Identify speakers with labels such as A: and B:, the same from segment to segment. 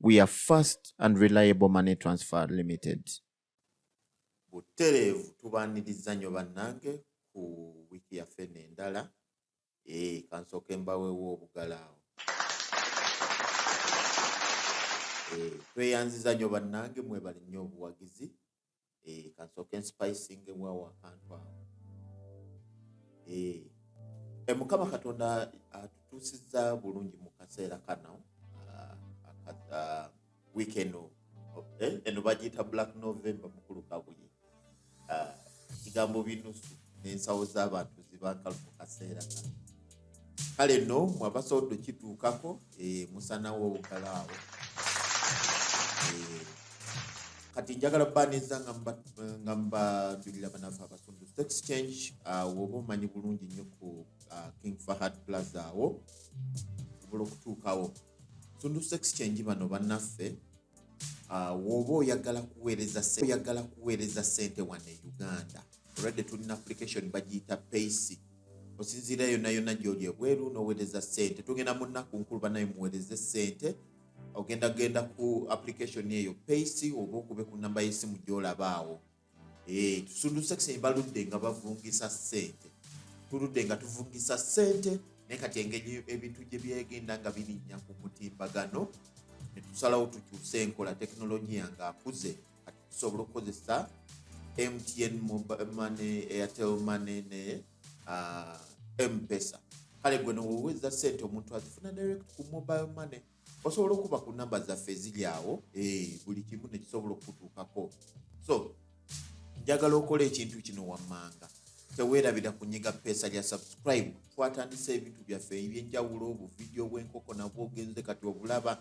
A: we are fast and reliable money transfer limited butereevu
B: tubaaniriza nnyo bannange ku wiiki yaffe eno endala ee eh, kansooke mbaweewo obugalaawo eh, tweyanziza nnyo bannange mwebali nnyo obuwagizi eh, kansooke nsipayisingebwawo akantu awo eh, eh, mukama katonda atutuusizza bulungi mu kaseera kano ah, ah, wiiki eno eh, eno bagiyita black november mukulu kabuye ah, kigambo binusu n'ensawo z'abantu zibankalu mu kaseera kano kale no mwabasodo kituukako eh, musanawo obugalaawo eh, kati njagala baniza nga mbajulira banafe abasundu stock exchange ah, woba omanyi bulungi nnyo ku ah, king fahad plaza awo osobola okutuukawo sundu stock exchange bano banaffe Ah, woba oyagala kuweereza oyagala kuweereza sente wano e uganda olwadde tulina application bagiyita paysi osinziira yonna yonna gyoli ebweru noweereza sente tugenda mu nnaku nkulu banaye muweereze sente ogenda genda ku application eyo paysi oba okube ku namba y'esimu gyolabaawo Eh, tusunduse kise baludde nga bavungisa sente tuludde nga tuvungisa sente naye kati engeri ebintu gye byegenda nga birinnya ku mutimbagano ne tusalawo tukyuse enkola tekinologiya nga akuze kati tusobola okukozesa mtn money airtel money ne ah, mpesa kale gwe nowoweza sente omuntu azifuna direct ku mobile money osobola okuba ku namba zaffe eziri awo eh, buli kimu nekisobola okukutuukako so njagala okola ekintu kino wammanga teweerabira kunyiga peesa lya subscribe twatandisa ebintu byaffe ebyenjawulo obuvidiyo bwenkoko nabwo ogenze kati obulaba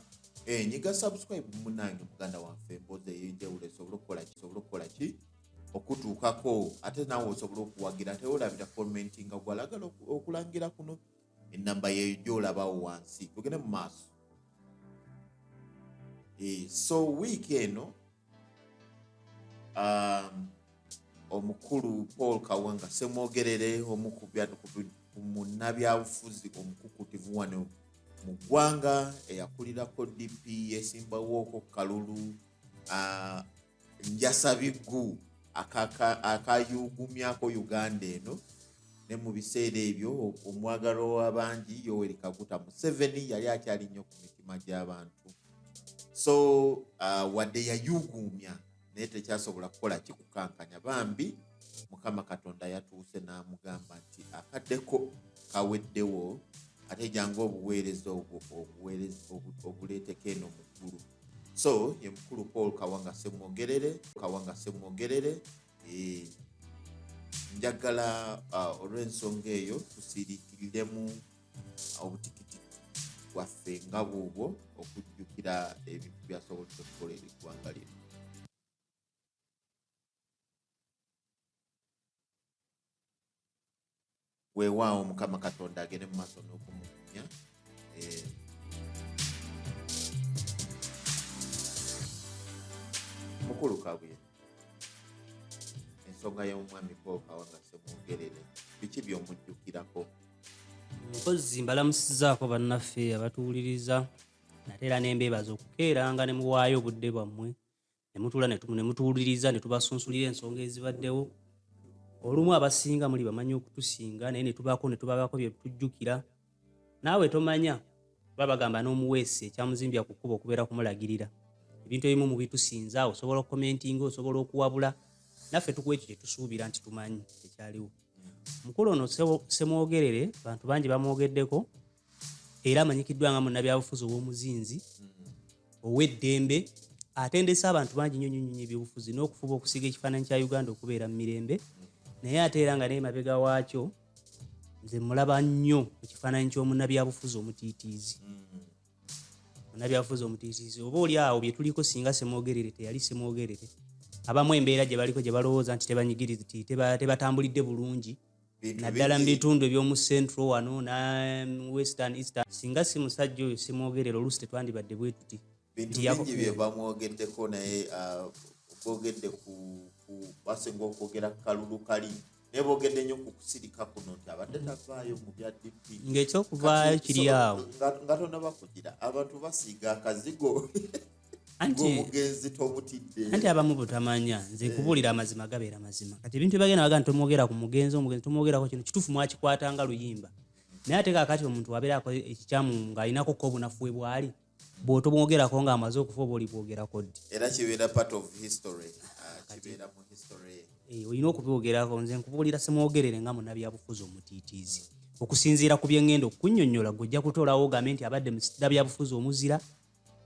B: eh, nyiga subscribe munange muganda wanfe emboozi eyenjawulo esobole okukola ki sobole okukola ki okutuukako ate naawe osobola okuwagira teweerabira commentinga gwalagala okulangira kuno enamba yeyo gyolabawo wansi tugende mu maaso eh, so wiiki eno um, omukulu paul kawanga semwogerere omu ku munnabyabufuzi omukukutivu wano mu ggwanga eyakulirako dp yesimbawooko kalulu uh, njasa biggu akayugumyako uganda eno ne mu biseera ebyo omwagalwa w'abangi yoweri kaguta museveni yali akyali nnyo ku mitima gy'abantu so uh, wadde yayuguumya naye tekyasobola kukola kikukankanya bambi mukama katonda yatuuse n'amugamba nti akaddeko kaweddewo ate jangu obuweereza obwo obuleeteko eno mu ggulu so ye mukulu paul kawanga semwogerere kawanga semwogerere eh, njagala uh, olw'ensonga eyo tusirikiriremu obutikitiki bwaffe nga bwobwo okujjukira ebintu byasobodde okukola eri eggwanga lino weewaawo mukama katonda agende mu maaso n'okumugumya eh, mukulu kabuye ensonga y'omwami pookawa nga semwogerere biki by'omujjukirako
C: mpozi mbalamusizaako bannaffe abatuwuliriza nate era nembeebaza okukeeranga ne muwaayo obudde bwammwe ne mutuula ne mutuwuliriza ne tubasunsulira ensonga ezibaddewo olumu abasinga muli bamanyi okutusinga naye netubaako netubabaako byetujjukira naawe tomanya oba bagamba n'omuweesi ekyamuzimbya ku kkuba okubeera kumulagirira ebintu ebimu mubitusinza osobola okukomentinga osobola okuwabula naffe tukuwa ekyo kyetusuubira nti tumanyi ekyaliwo mukulu ono semwogerere bantu bangi bamwogeddeko era amanyikiddwa nga munnabyabufuzi ow'omuzinzi mm-hmm. ow'eddembe atendese abantu bangi nyo nyo nyo ebyobufuzi n'okufuba okusiga ekifaananyi kya uganda okubeera mu mirembe mm-hmm. naye ate era nga naye mabega waakyo nze mulaba nnyo mu kifaananyi ky'omunnabyabufuzi omutiitiizi mm-hmm. munnabyabufuzi omutiitiizi oba oli awo bye tuliko singa semwogerere teyali semwogerere abamu embeera gye baliko gye balowooza nti tebanyigiriziti tebatambulidde bulungi naddala mu bitundu eby'omu central wano na western eastern singa si musajja oyo simwogerera oluusi tetwandibadde bwe tuti bintu bingi bye
B: bamwogeddeko naye uh, boogedde ku basinga okwogera ku kalulu kali naye boogedde nnyo ku kusirika kuno nti abadde tavaayo mu bya dp ng'ekyokuvaayo
C: kiri awo nga tonaba kugira
B: abantu basiiga akazigo
C: obugenzi
B: tobutidde anti abamu butamanya
C: nze nkubuulira eh. amazima gabeera mazima kati ebintu ebagenda baga tomwogera ku mugenzi omugenzi tomwogerako kino kituufu mwakikwata nga luyimba naye ate kakati omuntu wabeera ako ekikyamu ng'alinako ko obunafu we bwali bwotomwogerako ng'amaze okufa oba olibwogerako ddi era kibeera part of
B: history ah, kibeera mu history eh, olina okubyogerako
C: nze nkubuulira simwogerere nga munabyabufuzi omutiitiizi okusinziira ku byeŋŋenda okukunyonyola gwe ojja kutolawo ogambe nti abadde mu sitira byabufuzi omuzira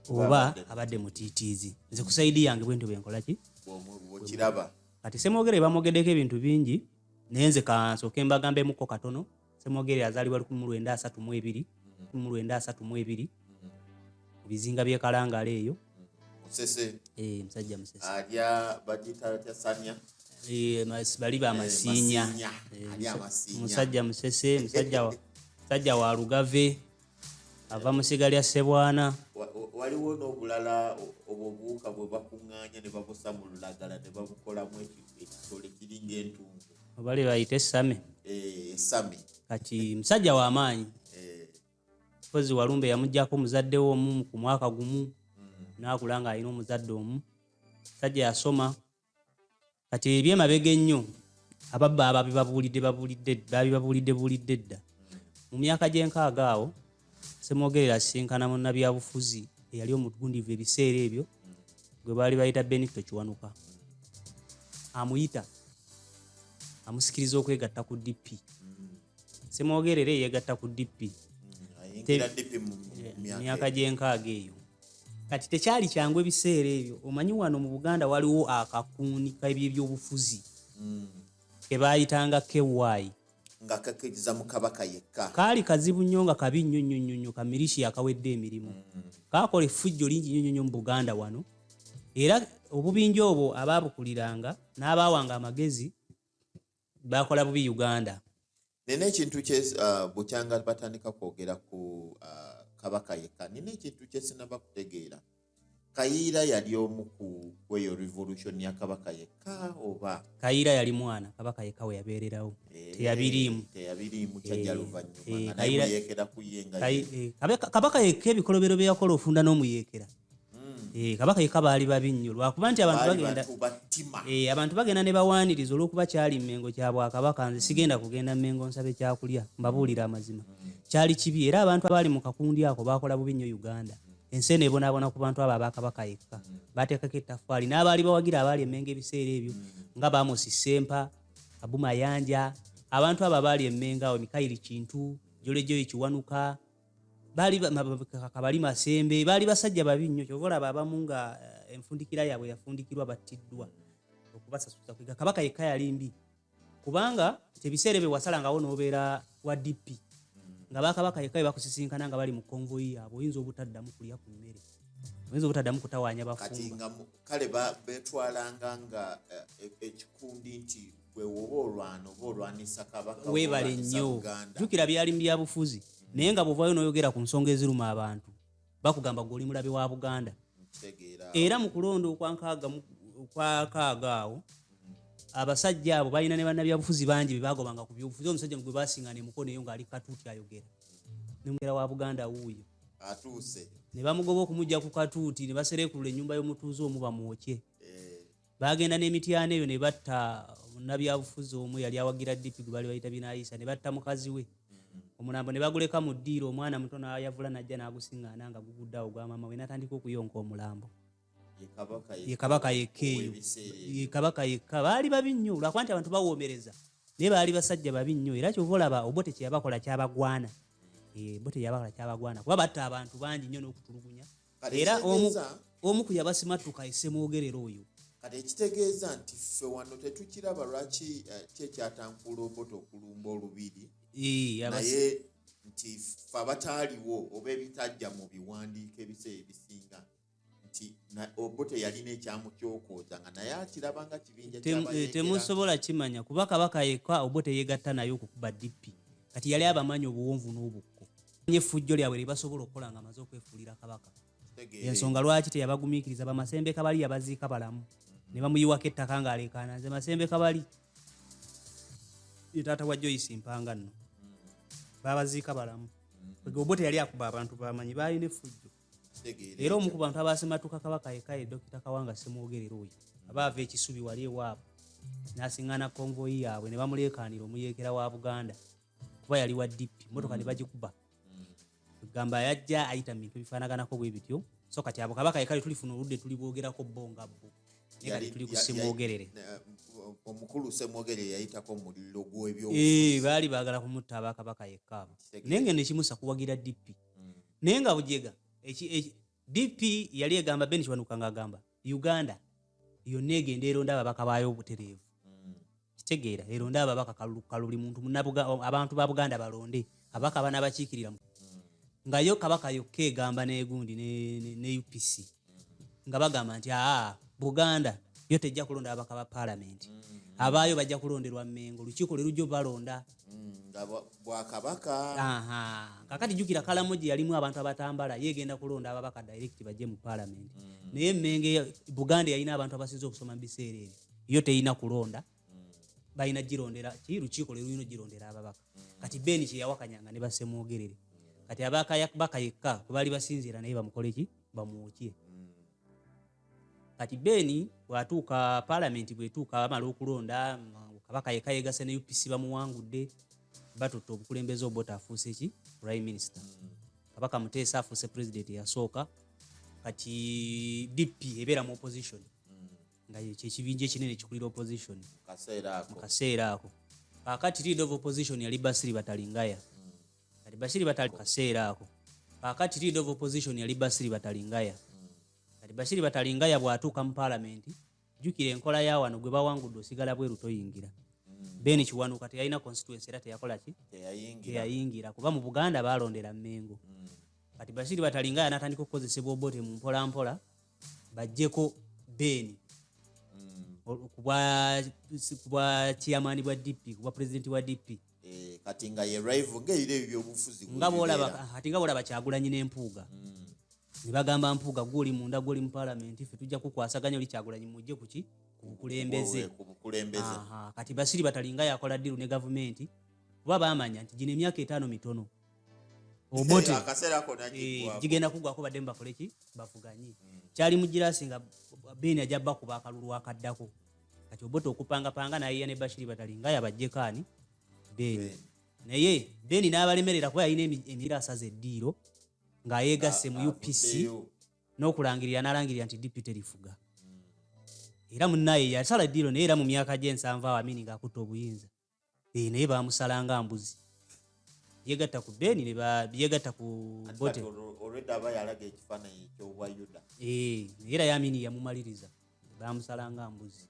C: oba abadde mutiitiizi nze kusaidi yange bwentyo bwenkolaki bwekiraba
B: kati semwogere
C: bamwogedeko ebintu bingi naye nze kansooke mbagambemuko katono semwogere azaalibwa lukumi lwenda asatu mu ebiri lukumi lwenda asatu mu ebiri mu bizinga byekalangala eyo musese
B: eh, musajja
C: musese alya bagita
B: atya sanya eh,
C: bali bamasinya eh, musajja musese musajja wa lugave ava mu siga lya ssebwana waliwo
B: n'obulala obwo obuwuka bwe bakuŋŋaanya ne babusa mu lulagala ne babukolamu ekitole kiringa entungu obali bayita esame
C: eh, esame
B: kati
C: musajja w'amaanyi eh. kozi walumbe yamugjako omuzadde we omu ku mwaka gumu mm. n'akula ng'alina omuzadde omu musajja yasoma kati ebyo emabega ennyo ababba ababibabuulidde babuulidde babibabuulidde buulidde dda mu myaka gy'enkaaga awo semwogerera asisinkana munnabyabufuzi eyali omugundivu ebiseera ebyo gwe baali bayita benito kiwanuka amuyita amusikiriza okwegatta ku dp semwogerere yegatta ku dp myaka gyenkaaga eyo kati tekyali kyangu ebiseera ebyo omanyi wano mu buganda waliwo akakuuni kebyebyobufuzi hmm. kebayitanga ky nga kakiriza
B: mu kabaka yekka kaali kazibu nnyo nga
C: kabi nnyo nnyo nnyo nnyo kamirishi yakawedde emirimu mm. kaakola effujjo lingi nnyo nnyo nnyo mu buganda wano era obubinja obwo abaabukuliranga n'abaawanga amagezi bakola bubi uganda nina ekintu
B: kye uh, bukyanga batandika kwogera ku uh, kabaka yekka nina ekintu kyesinaba kutegeera kayiira yali omu ku kweyo revolution ya kabaka yekka oba kayiira yali mwana
C: kabaka yekka we yabeererawo eh, teyabiriimu teyabiriimu kyajja
B: eh, luvannyuma eh, nayeekera kuyenga kabaka
C: yekka ebikolobero bye yakola ofunda n'omuyeekera Hmm. Eh, kabaka yeka baali babi nnyo lwakuba nti abantu bagenda eh, abantu bagenda ne bawaaniriza olwokuba kyali mmengo kya bwakabaka nze sigenda kugenda mmengo nsabe kyakulya mbabuulira amazima hmm. kyali kibi era abantu abaali mu kakundi ako baakola bubi nnyo uganda ensi eno ebonaabona ku bantu abo abakabaka yekka hmm. baateekako ettaffaali n'abaali bawagira abaali emmengo ebiseera ebyo nga baamusi sempa abumayanja abantu abo abaali emmengo awo mikayiri kintu jolejoyi kiwanuka baali kabali masembe baali basajja babi nnyo kyova olaba abamu nga eh, enfundikira yaabwe yafundikirwa battiddwa okubasasuza kwiga kabaka yekka yali mbi kubanga ebiseera ebyo wasalangawo n'obeera wa dp nga bakabaka yekka bebakusisinkana nga bali mu konvoyi yaabwe oyinza obutaddamu kulya ku mmere oyinza obutaddamu kutawaanya bafumba kale
B: betwalanga nga eh, e, ekikundi nti weebale nnyo
C: jjukira byali mu byabufuzi naye nga bwovaayo n'oyogera ku nsonga eziruma abantu bakugamba gwe oli mulabe wa buganda era mu kulonda okwakaaga awo abasajja abo balina ne bannabyabufuzi bangi bebagobanga ku byobufuzi omusajja gwe basinga nemukono eyo ng'ali katuuti ayogera nemugera wa buganda wuuyo
B: ne bamugoba
C: okumugja ku katuuti ne baserekulula ennyumba y'omutuuze omu bamwokye baagenda n'emityana eyo ne batta munnabyabufuzi omu yali awagira dp gwe baali bayita binayisa ne batta mukazi we omulambo ne baguleka mu ddiiro omwana muto nayavula najja n'agusiŋŋaana nga gugudde awo gwa maama we natandika okuyonka omulambo ye kabaka yekka eyo ye kabaka yekka baali babi nnyo lwakuba nti abantu bawoomereza naye baali basajja babi nnyo era kyova olaba obote kyeyabakola kyabagwana eh, obote yabakola kyabagwana kuba batta abantu bangi nnyo n'okutulugunya era omu ku yabasimattuka esemwogerera oyo kati ekitegeeza
B: nti ffe wano tetukiraba lwaki eh, ki ekyatankuula obota okulumba olubiri naye nti fe abataaliwo oba ebitajja mu biwandiiko ebiseera ebisinga nti obote yalina ekyamu kyokooza nga naye akiraba nga kibinja eh, temusobola
C: kimanya kuba kabaka yekka obote yegatta naye okukuba dippi kati yali abamanyi obuwonvu n'obukko nye fujjo lyabwe libasobola okukola nga amaze okwefuulira kabaka ensonga lwaki teyabagumikiriza bamasembe kabali yabaziika balamu ne bamuyiwako ettaka ng'aleekaana nze masembe kabali taata wa joyce mpanga nno babaziika balamu obo teyali akuba abantu bamanyi baalina effujjo era omu ku bantu abasematuka kabaka yekaye dokita kawanga semwogerera oyo abaava ekisubi wali ewaabwe n'asiŋŋana konvoyi yaabwe ne bamuleekaanira omuyeekera wa buganda kuba yali wa dp motoka mm. nebagikuba mm. gamba yajja ayita mu bintu ebifaanaganako bwe bityo so kati abo kabaka yekale tulifuna oludde tuli bwogerako bo nga bo nekati tuli kusemwogerere omukulu
B: semwogerere yayitako muliro gwebyo eh, baali baagala
C: kumutta abakabaka yekka abo naye nga nekimusa kuwagira dp mm. naye nga bujega DP yali egamba Ben Kiwanuka ng'agamba Uganda yonna egenda eronda ababaka baayo obutereevu mm. kitegeera eronda ababaka kalulukukalu buli muntu abantu ba Buganda balonde ababaka abana bakiikirira mm. nga yo kabaka yokka egamba n'egundi ne UPC nga bagamba nti aa Buganda yo tejja kulonda ababaka ba palamenti mm. abaayo bajja kulonderwa Mmengo lukiiko lwe lujja obalonda mm. mm,
B: nga bwakabaka
C: kakati jukira kalamu gye yalimu abantu abatambala yegenda kulonda ababaka direct bajje mu palamenti mm. naye menge buganda yalina abantu abasinza okusoma mu biseera ebyo yo teyina kulonda balina girondera ki lukiiko lwelulina ogirondera ababaka kati beni kyeyawakanyanga ne basemwogerere kati abakayakbaka yekka kwebaali basinziira naye bamukoleki bamwokye kati beni bwatuuka palamenti bwetuuka bamala okulonda kabaka yeka yegase ne upc bamuwangudde batutte obukulembeze obota afuuse ki prime minister mm. kabaka muteesa afuuse president eyasooka kati dp ebeera mu opposition mm. nga kyekibinja ekinene ekikulira opposition mu kaseera ako kakati lead of opposition yali basiri batalingaya mm. kati basiri batali kaseera ako kakati lead of opposition yali basiri batalingaya kati bashiri batalingaya bwatuuka mu palamenti jukira enkola ya wano gwe bawangudde osigala bweru toyingira mm. ben kiwanuka teyalina constituency era teyakola ki teyayingira kuba mu buganda balondera mengo mm. kati bashiri batalingaya natandika okukozesebwa obote mu mpolampola bajjeko ben mm. kubwa chairman bwa dp kubwa president wa dp Eh, kati nga ye
B: rival nga ebiro ebyo byobufuzi nga bwolaba kati
C: nga bwolaba kyagulanyi n'empuuga hmm. ne bagamba mpuuga gwe oli munda gwe oli mu palamenti ffe tujja kukwasaganya oli kyagulanyi mujje kuki ku bukulembeze kati basiri batalinga yakola ddiru ne gavumenti kuba bamanya nti gino emyaka etaano mitono obote eh, gigenda kugwako badde mu bakoleki bavuganye hmm. kyali mu girasi nga beeni ajja bakuba akalulu akaddako kati obote okupangapanga nayiya ne bashiri batali nga yabajjeko ani beni naye beni n'abalemerera kuba yalina emira asaza eddiiro ng'ayeegasse mu upc n'okulangirira n'alangirira nti dipite lifuga era munaye yasala eddiiro naye era mu myaka gy'ensanvu awo amini ng'akutte obuyinza eh, naye bamusala nga mbuzi yegatta ku beni yegatta ku
B: era yamini
C: yamumaliriza bamusala nga mbuzi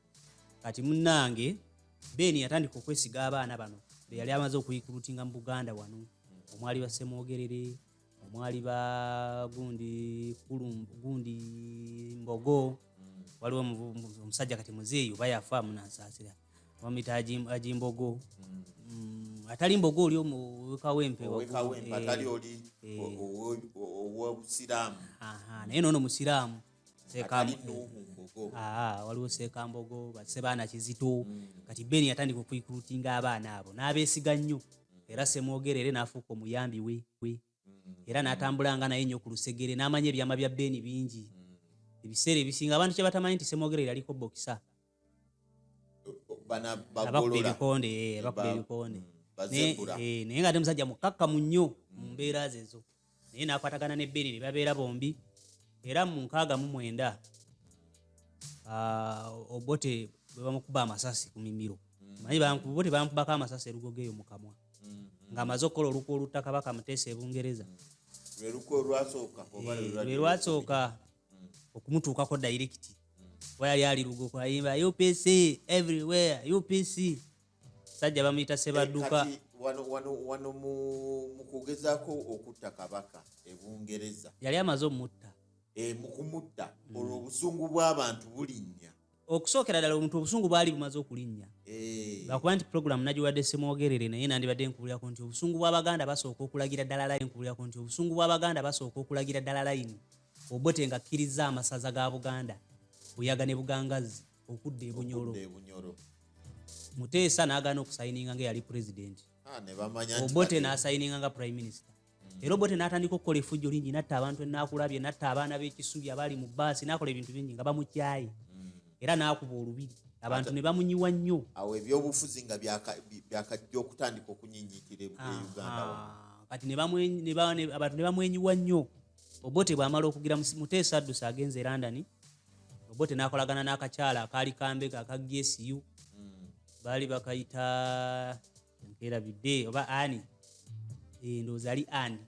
C: kati munange beni yatandika okwesiga abaana bano beyali amaze okuyikulutinga mu buganda wano omwali basemwogerere omwali ba gundi gundi mbogo mm. waliwo omusajja kati muzeeyi oba yafa munansasira bamuyita ajimbogo mm. mm, atali mbogo oli omukawempeowekawempe atali oli
B: owobusiraamu naye noono
C: musiraamu waliwo sekambogo basebaana kizito mm. kati ben yatandika okuikulutinga abaana abo n'abeesiga nnyo mm. era semwogera era n'afuuka omuyambi we mm. era n'atambulanga naye nnyo ku lusegere n'amanya ebyama bya ben bingi ebiseera ebisinga abantu kye batamanyi nti semwogera yaliko bokisa abakuba ebikonde eh, abakuba ebikonde eh, naye nga ate musajja mukakkamu nnyo mu mbeera zezo naye nakwatagana ne beri ne babeera bombi era mu nkaaga mu mwenda ah, obote bwe bamukuba amasasi ku mimiro mm. manyi obote bamukubako amasasi erugogo eyo mu kamwa mm-hmm. ng'amaze okukola olukwa oluttaka bakamuteesa ebungereza mm. lwe lwasooka eh, mm. okumutuukako direct mm. wayali ali lugoku ayimba upc everywhere upc sajja bamuyita sebadduka eh,
B: wano mu kugezako okutta kabaka ebungereza yali amaze omutta
C: eh, mukumutta
B: olwo obusungu bw'abantu bulinnya okusookera ddala
C: omuntu obusungu bwali bumaze okulinnya eh. lwakuba nti puroguramu nagiwadde semwogerere naye nandibadde nkubulirako nti obusungu bw'abaganda basooka okulagira ddala layini nkubulirako nti obusungu bw'abaganda basooka okulagira ddala layini obote nga akkirizza amasaza ga buganda buyaga ne bugangazzi okudda ebunyolo muteesa n'agaana okusayininga nga eyali pulezidenti ah, obote n'asayininga nga prime minister era obote n'atandika okukola efujjo lingi natta abantu enakulabye natta abaana b'ekisubi abaali mu baasi n'akola ebintu bingi nga bamukyaye era n'akuba olubiri abantu ne bamunyiwa nnyo awo ebyobufuzi
B: nga byakajja okutandika okunyinyitira e uganda kati
C: abantu ne bamwenyiwa nnyo obote bwamala okugira muteesa addusa agenze e london obote n'akolagana n'akakyala akaali kambega aka gsu mm. baali bakayita nkerabidde oba ani eh, ndowooza ali ani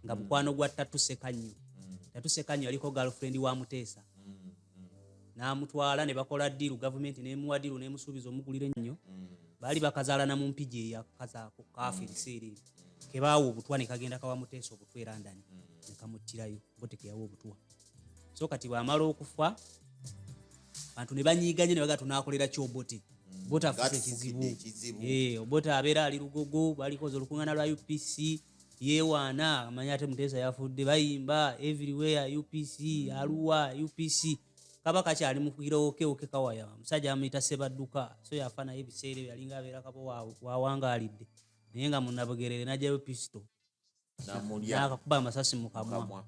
C: nga mm. mukwano gwa tatuseka nnyo mm. tatuseka nnyo yaliko galfrendi wa muteesa mm, n'amutwala ne bakola diiru gavumenti nemuwa diiru nemusuubiza omugulire nnyo baali bakazaalana mu mpigi eyakazaako kaafa ebiseera ebyo kebaawa obutwa nekagenda kawa muteesa obutwa erandani nekamuttirayo botekeyawa obutwa so kati bwamala okufa bantu ne banyiiganye ne bagaa tunaakolera ki obote mm. bota afuuka ekizibu eh, obote abeera ali lugogo balikoza olukungana lwa upc yewaana amanya ate muteesa yafudde bayimba everywhere upc mm. aluwa upc kaba kakyali mukugirowokewoke kawaya omusajja amuyita sebadduka so yafa naye ebiseera ebyo yalinga abeera kaba wawangaalidde naye nga munabugerere najjayo pisito namulyanakakuba amasasi mukamwa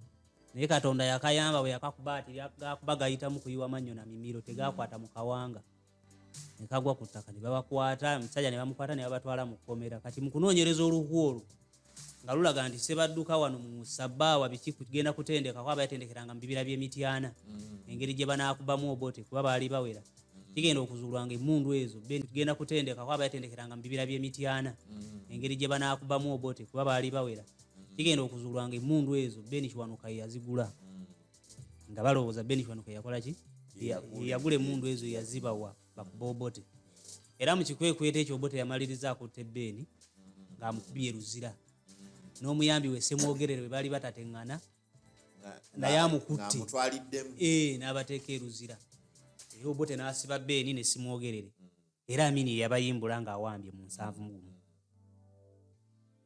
C: naye katonda yakayamba bwe yakakuba ati gakuba gayitamu kuyiwa mannyo na mimiro tegakwata mu kawanga nekagwa ku ttaka nebabakwata omusajja nebamukwata nebabatwala mu kkomera kati mukunoonyereza oluku olwo nga lulaga nti sebadduka wano mu sabaawa biki kugenda kutendekako abayatendekeranga mu bibira by'emityana mm. engeri gye banaakubamu obote kuba baali bawera mm-hmm. kigenda okuzuulwa nga emundu ezo tugenda kutendeka kuba bayatendekeranga mu bibira by'emityana mm-hmm. engeri gye banaakubamu obote kuba baali bawera mm-hmm. kigenda okuzuulwa nga emundu ezo beni kiwanuka yazigula nga balowooza beni kiwanuka yakola ki yagula emundu ezo yazibawa bakuba obote era mu kikwekweto ekyo obote yamaliriza akutte beni ng'amukubye luzira n'omuyambi we semwogerere bwe baali batateŋŋana naye amukutte eh, n'abateeka eruzira era obote n'asiba beeni ne simwogerere mm. era amini yabayimbula ng'awambye mu nsanvu mugumu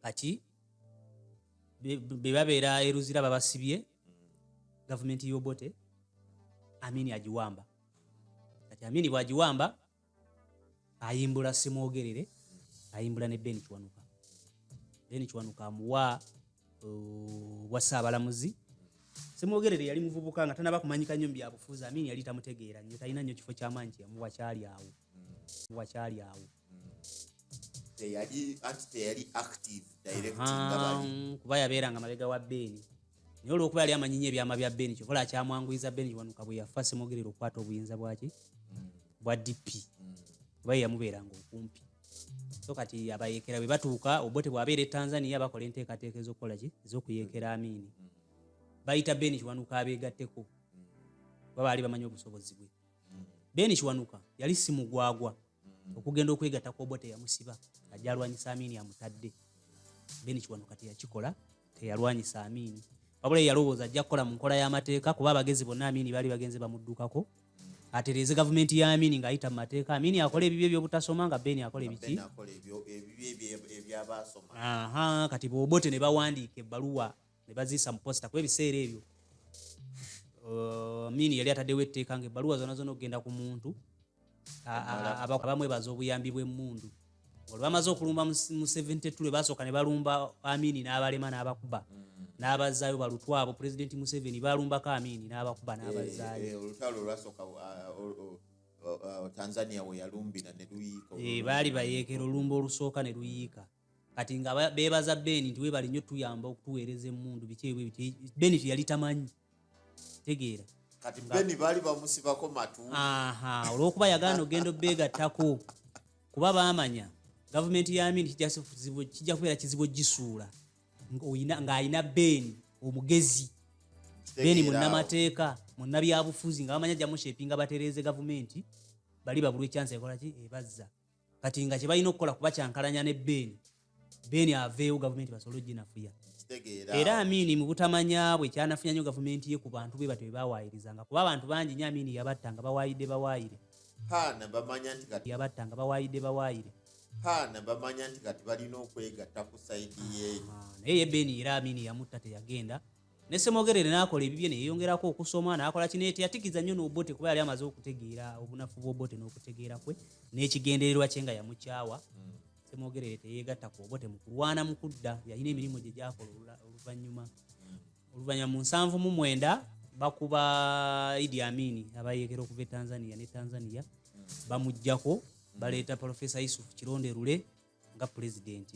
C: kati be babeera eruzira babasibye mm. gavumenti y'obote amini agiwamba kati amini bw'agiwamba ayimbula simwogerere ayimbula ne ben kiwanuka ben kiwanuka amuwa uh, bwa ssaabalamuzi simwogerere yali muvubuka nga tanaba kumanyika nnyo mubyabufuuzi amini yali tamutegeera nnyo talina nnyo kifo kyamaanyi kyeyamuwa kyali awo
B: muwa kyali awo kuba yabeeranga
C: mabega wa beeni naye olwokuba yali amanyinyo ebyama bya beni kyokola akyamwanguyiza beni kiwanuka bwe yafa simwogerera okukwata obuyinza bwaki bwa dp kuba ye yamubeeranga okumpi so kati abayekera bwe batuuka obote bwabeera e tanzania bakola enteekateeka ezokukola ki ezokuyekera amiini bayita beni kiwanuka abeegatteko kuba baali bamanyi obusobozi bwe beni kiwanuka yali simugwagwa mm. okugenda okwegata ku obote yamusiba ajja alwanyisa amini amutadde then kiwano kati yakikola teyalwanyisa amini wabula yalowooza ajja kukola mu nkola y'amateeka kuba abagezi bonna amini baali bagenze bamuddukako atereeze gavumenti ya amini ngaayita mu mateeka amini akola ebibyo ebyobutasoma nga beni akola ebiki kati bobote ne bawandiika ebbaluwa ne baziisa mu posita kuba ebiseera ebyo uh, mini yali ataddewo etteeka nga ebbaluwa zona zona okugenda ku muntu abamwebaza obuyambi bw'emmundu olwe bamaze okulumba mu 72 lwe basooka ne balumba amini n'abalema n'abakuba mm. n'abazaayo balutwa abo pulezidenti museveni balumbako amini n'abakuba eh, n'abazaayo eh, olutalo olwasooka
B: uh, uh, uh, tanzania weyalumbira ne luyiika eh, baali bayeekera
C: olumba olusooka ne luyiika kati nga beebaza ben nti webale nnyo tuyamba okutuweereza emundu bikyebwe bit ben teyali tamanyi tegeera kati ben
B: baali bamusibako matu olwokuba
C: yagaana ogenda obeegattako kuba baamanya gavumenti ya amini kijja kubeera kizibu ogisuula ng'alina ben omugezi ben munnamateeka munnabyabufuzi nga bamanya jamushepinga batereeze gavumenti bali babulwa ekyansi ekolaki ebazza kati nga kyebalina okukola kuba kyankalanya ne beeni beeni aveewo gavumenti basobole oginafuya era
B: amiini mu
C: butamanya bwe kyanafuya nyo gavumenti ye ku bantu bwe batyo bebawaayirizanga kuba abantu bangi nyo amiini yabatta nga bawaayidde bawaayire
B: yabatta nga bawaayidde bawaayire paana bamanya nti kati balina okwegatta ku saidi ye naye ye beeni era
C: amiini yamutta teyagenda ne Ssemogerere n'akola ebibye ne yeeyongerako okusoma n'akola kino eti yatikiza nnyo n'Obote kuba yali amaze okutegeera obunafu bw'Obote n'okutegeera kwe n'ekigendererwa kye nga yamukyawa hmm. Ssemogerere teyeegatta ku Obote mu kulwana mu kudda yalina emirimu gye gyakola oluvannyuma hmm. oluvannyuma mu nsanvu mu mwenda bakuba Idi Amin abayeekera okuva e Tanzania ne Tanzania hmm. bamuggyako baleeta Profesa Yusuf Kironde Lule nga pulezidenti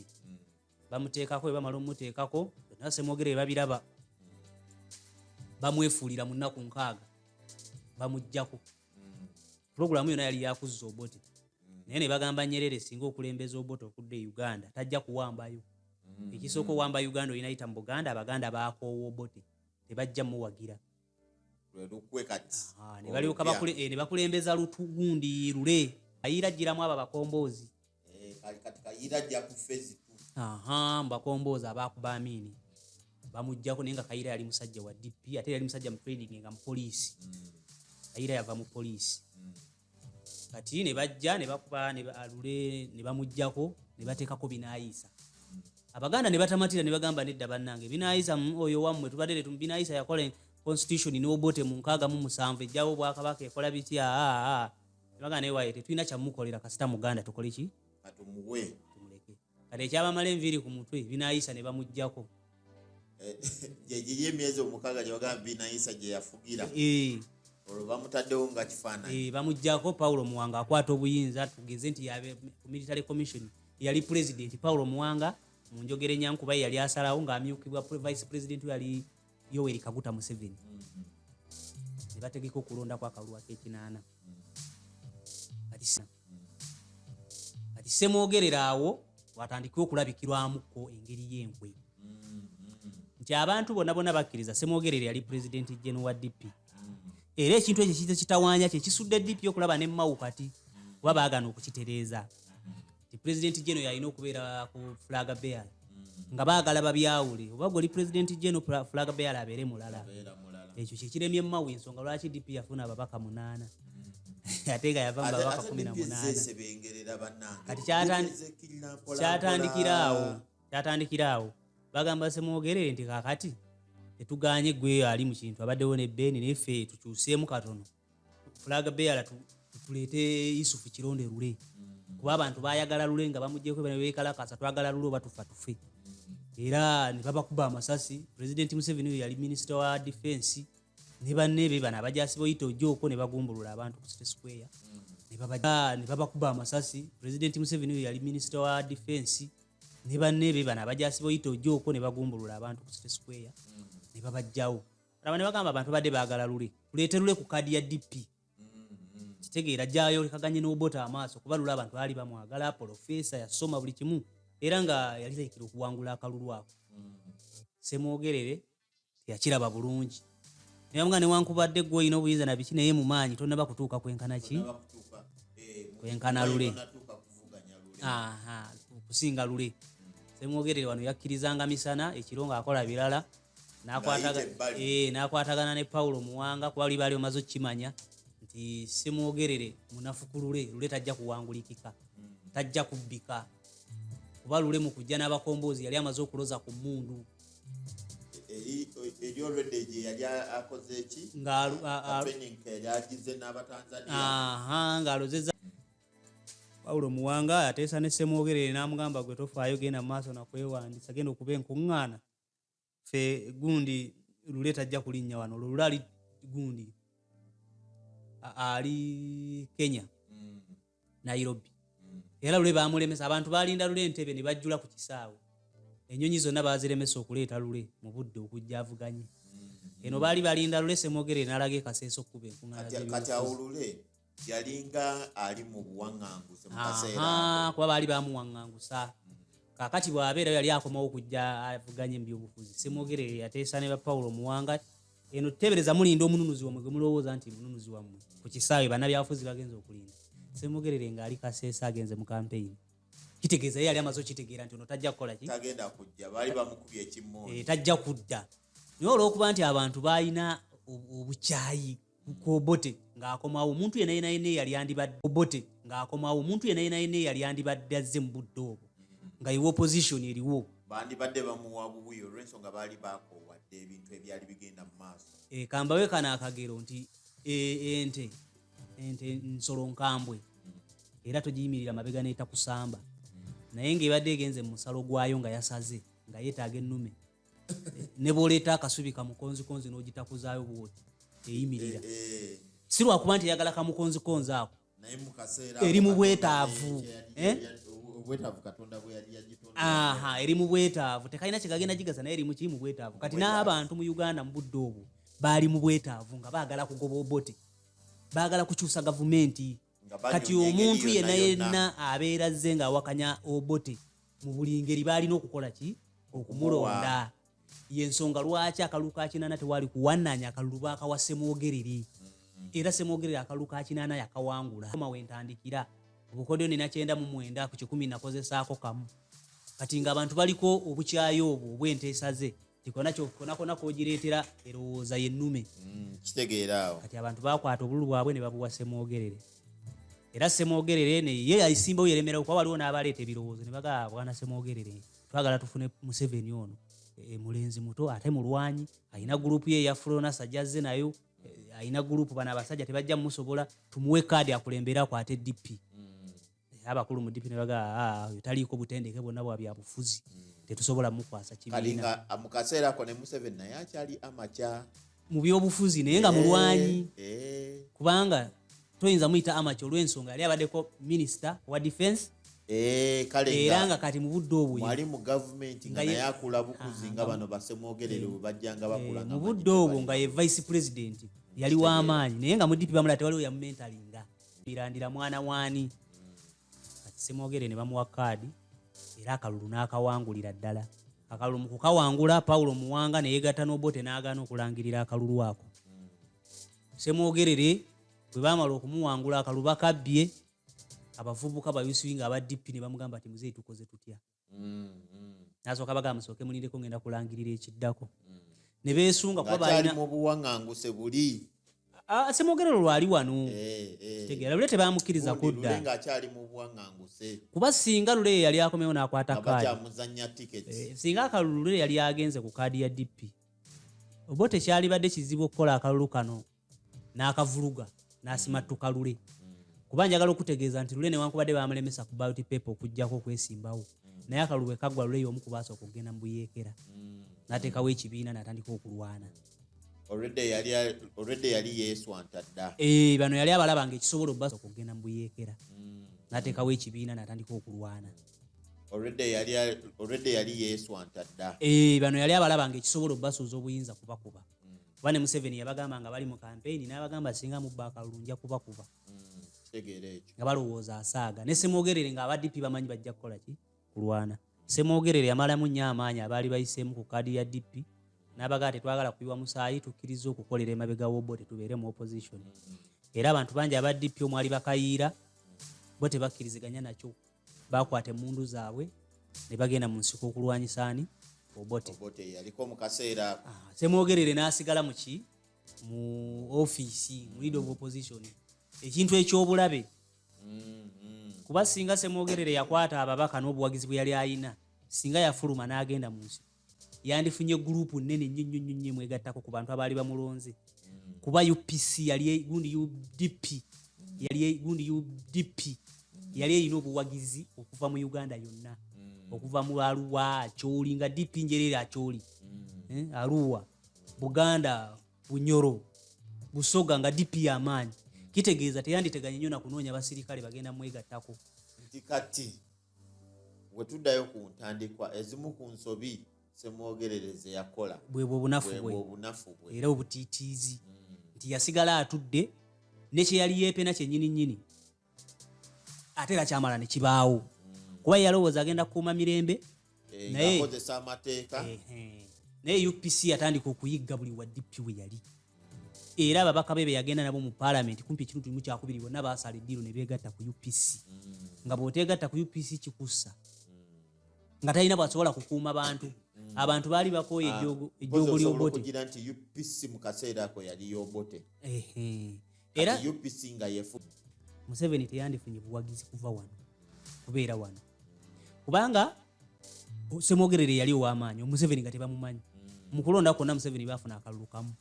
C: bamuteekako bwe bamala omumuteekako byonna semwogere bebabiraba bamwefuulira mu nnaku nkaaga bamuggyako mm. pulogulaamu yona yali yakuzza obote mm. naye ne bagamba nyerere singa okulembeza obote okudda e uganda tajja kuwambayo mm. ekisooka owamba uganda olina yita mu buganda abaganda bakoowa obote tebajja muwagira lwelukwe kati ah, nebalyoka eh, nebakulembeza lutugundi lule ayira jiramu abo abakomboozi eh, kati kayira jja ku fezi tu aha mbakomboozi abakuba amini bamujjako naye nga kayira yali musajja wa dp ate yali musajja mu training nga mupoliisi mm. kayira yava mu poliisi mm. kati ne bajja ne bakuba ne alule ne bamujjako ne bateekako binaayiisa abaganda ne batamatira ne bagamba nedda bannange binaayiisa mm, oyo wammwe tubadde letu binaayiisa yakola constitution n'obote mu nkaaga mu musanvu ejjawo obwakabaka ekola bitya ah, ah, ah. ne baganda naye waye tetulina kyamukolera kasita muganda tukole ki kati ekyabamala enviiri ku mutwe binayisa ne bamugjako
B: gyeyemyezi omukaaga gyewagamba binayisa gye yafugira eh. olwo bamutaddewo nga kifaananyi eh, bamugjako paulo
C: muwanga akwata obuyinza tugeze nti yabe ku military commission yali pulezidenti paulo muwanga mu njogera enyankuba ye yali asalawo ng'amyukibwa vice pulezidenti yali yoweri kaguta museveni mm-hmm. ne bategeka okulonda ku akalulu akekinaana mm-hmm. kati semwogerera awo watandike okulabikirwamuko engeri yenkwe mm-hmm. nti abantu bonna bona bakkiriza semwogerera yali pulezidenti gen wa dp era ekintu ekyo kite kitawanya kyekisudde dp okulaba nemawu kati kuba bagana okukitereeza nti president geno yalina okubeera ku flag bear mm. nga baagala babyawule oba gwe oli president geno flag bear abeere mulala ekyo kyekiremye mawe ensonga lwaki dp yafuna ababaka munaana mm. ate nga yava mubabaka kumi na munaana kati kyatandikira awo kyatandikira awo bagamba semwogerere nti kakati tetuganye gwe ali mu kintu abaddewo ne beni naye fe tukyuseemu katono flag bearer tuleete yusufu kironde lule mm. kuba abantu bayagala lule nga bamujeko bekalakasa twagala lule oba tufa tufe mm. era nebabakuba amasasi president museveni oyo yali minisita wa defense ne banne be bano abajasi boyita ojoko ne bagumbulula abantu ku city square mm. ne babakuba amasasi president museveni oyo yali minisita wa defense ne banne be bano abajasi boyita ojoko ne bagumbulula abantu ku city square ne babajjawo laba ne bagamba abantu badde baagala lule tuleete lule ku kaadi ya dp mm-hmm. kitegeera gyayolekaganye n'obota amaaso kuba lule abantu baali bamwagala polofeesa yasoma buli kimu era nga yali taikira okuwangula akalulu ako mm-hmm. semwogerere teyakiraba bulungi nayamga newankubadde gwe olina obuyinza na biki naye mu maanyi tonaba kutuuka kwenkana ki eh, kwenkana lule kusinga lule semwogerere wano yakkirizanga misana ekiro ng'akola birala n'akwatagana eh, ne pawulo muwanga kuba libaali omaze okukimanya nti simwogerere munafukulule lule tajja kuwangulikika mm. tajja kubbika kuba lule mu kujja n'abakomboozi yali amaze okuloza ku mmundu eri olwedde gye yali akoze eki ngaagize n'abatanzania ng'alozeza pawulo muwanga ateesa ne semwogerere n'amugamba gwe tofaayo genda mu maaso nakwewandisa genda okuba enkuŋŋaana fe gundi lule tajja kulinnya wano olwo lule ali gundi ali kenya mm. nairobi mm. era lule bamulemesa abantu balinda lule entebe ne bajjula ku kisaawe enyonyi zonna baziremesa okuleeta lule mu budde okujja avuganye mm. eno baali balinda lule semogere nalaga ekaseesa okukuba enkuŋaaati awulule
B: yalinga ali mu buwaŋŋanguse mu kaseera kuba baali bamuwaŋŋangusa
C: kakati bwabeera yali akomawo okujja avuganye mu byobufuzi semwogere yateesa ne ba pawulo muwanga eno tuteebereza mulinda omununuzi wamwe gwe mulowooza nti mununuzi wammwe ku kisaawe bannabyafuzi bagenza okulinda semugerere ng'ali kaseesa agenze mu kampeyini kitegeeza ye yali amaze okitegeera nti ono tajja kukola ki
B: eh, tajja kudda
C: naye olw'okuba nti abantu baalina obukyayi kuobote ng'akomawo omuntu yena yena yena eyali andibadde obote ng'akomawo omuntu yena yena yena eyali andibadde azze mu budde obwo nga iwe opposition eriwo bandibadde bamuwa
B: bubuyo olw'ensonga baali bakowadde ebintu ebyali bigenda mu maaso eh, kambawe kano
C: akagero nti eh, ente ente nsolo nkambwe era togiyimirira mabega n'etakusamba naye ng'ebadde egenze mu musalo gwayo nga yasaze nga yeetaaga ennume ne bwoleeta akasubi kamukonzikonzi n'ogitakuzaayo bwoti eyimirira eh, eh. si lwakuba nti eyagala kamukonzikonzi ako
B: eri mu bwetaavu eh? eri mu
C: bwetaavu tekalina kyegagenda gigaza naye eri mukiri mu bwetaavu kati n'abantu mu uganda mu budde obwo baali mu bwetaavu nga baagala kugoba obote baagala kukyusa gavumenti kati omuntu yena yenna abeera zze ng'awakanya obote mu buli ngeri baalina okukola ki okumulonda yensonga lwaki akalulu ka kinaana tewaali kuwanaanya akalulu baakawa semwogerere mm-hmm. era semwogerere akalulu ka kinaana yakawangula ma wentandikira obukodyo nina kyenda mu mwenda ku kikumi nakozesaako kamu kati ng'abantu baliko obukyayi obwo obwenteesa ze konakonako ogireetera erowooza yennume mm, kitegeeraawo
B: kati abantu bakwata obululu
C: bwabwe ne babuwa semwogerere era semwogerere neye aisimbawo yeremerawo kuba waliwo n'abaleeta ebirowoozo ne bagaa ah, bwana semwogerere twagala tufune museveni ono e, e, mulenzi muto ate mulwanyi alina gurupu ye yafulona sajazze nayo e, alina gurupu bano abasajja tebajja mumusobola tumuwe kaadi akulembere akwate dp naye abakulu mu dipi nebaga ah, oyo taliiko butendeke bwonna bwa byabufuzi hmm. tetusobola mukwasa kibiina ah, mu kaseera ako ne
B: museveni naye akyali amaca mu byobufuzi
C: naye nga eh, mulwanyi eh. kubanga toyinza muyita amaca olw'ensonga yali abaddeko minisita wa defense Eh, era nga kati mubudde obwomwali mu gavumenti
B: nga naye akula bukuzi nga bano basemwogerere eh, bajjanga bakula eh, mubudde obwo nga
C: ye vice president yali w'amaanyi naye nga mudipi bamula tewaliwo yamumentalinga mbirandira mwana waani kati simwogere ne bamuwa kaadi era akalulu n'akawangulira ddala akalulu mu kukawangula pawulo muwanga ne yeegatta n'obote n'agaana okulangirira akalulu ako semwogerere bwe baamala okumuwangula akaluba kabbye abavubuka bayusuinga aba dp ne bamugamba ti muzeeyi tukoze tutya mm, mm. nasooka baga musooke mulindeko ngenda kulangirira ekiddako mm. ne beesunga kubakyali mu buwaŋanguse
B: buli semwogera
C: olwo lwali wano eh, eh. kitegeera lule tebamukkiriza kudda
B: kuba singa lule
C: ye yali akomewo n'akwata kaadi
B: eh, singa akalulu lule yali
C: agenze ku kaadi ya dp oba tekyalibadde kizibu okukola akalulu kano n'akavuluga n'asimattuka lule kuba njagala okutegeeza nti lule newankubadde bamulemesa ku baloti pepa okugyako okwesimbawo naye akalulu bwe kaggwa lule y'omu kubaasa okugenda mu buyeekera n'ateekawo ekibiina n'atandika okulwana
B: eh, bano yali abalaba
C: nga ekisobola obubaasa okugenda mu buyeekera mm. n'ateekawo ekibiina n'atandika okulwana
B: eh, bano yali abalaba
C: nga ekisobola obubasuuza obuyinza kubakuba kuba ne museveni yabagamba nga bali mu kampeyini n'abagamba singa mubba akalulu nja kubakuba nga balowooza asaaga ne semwogerere nga abadp bamanyi bajja kukola ki kulwana semwogerere yamalamu nnyo amaanyi abaali bayiseemu ku kaadi ya dp n'abagaa tetwagala kuyiwa musaayi tukkiriza okukolera emabega wobo tetubeere mu opposition era abantu bangi aba dp omwali bakayiira bo tebakkiriziganya nakyo baakwata emmundu zaabwe ne bagenda mu nsiko okulwanyisa ani obote yaliko mu
B: kaseera ah, semwogerere
C: n'asigala mu ki mu ofiisi mu lead of opposition ekintu eky'obulabe mm-hmm. kuba singa semwogerere yakwata ababaka n'obuwagizi bwe yali ayina singa yafuluma n'agenda mu nsiko yandifunye gurupu nnene nnyo nnyo nnyo nnyo mwegattako ku bantu abaali bamulonze mm. kuba upc yali e, gundi udp yali e, gundi udp yali erina obuwagizi okuva mu uganda yonna mm. okuva mu aluwa akyoli nga dp njereere akyoli mm. eh, aluwa buganda bunyoro busoga nga dp yamaanyi kitegeeza teyanditeganye nnyo nakunoonya basirikale bagenda mwegattako kati
B: wetuddayo ku ntandikwa ezimu ku nsobi semwogerereze yakola bwebwo obunafu bwe
C: obunafu bwe era obutiitiizi mm. nti yasigala atudde ne kye yali yeepena kyennyini nnyini ate era kyamala ne kibaawo mm. kuba yalowooza agenda kukuuma mirembe eh, naye akozesa amateeka naye upc yatandika
B: okuyigga
C: buli wa dp we yali era ababaka be beyagenda nabo mu palamenti kumpi ekitundu kimu kyakubiri bonna baasala eddiiro ne beegatta ku upc mm. nga bw'oteegatta ku upc kikussa mm. nga talina bwasobola kukuuma bantu mm. abantu baali bakooye ah, ejjoogo ly'obote nti upc
B: mu kaseera ako yali y'obote
C: era UPC nga
B: yefu Museveni
C: teyandifunye buwagizi kuva wano kubeera wano kubanga semwogerere yali owamaanyi omuseveni nga tebamumanyi mm. mukulonda kwonna museveni bafuna akalulu kamu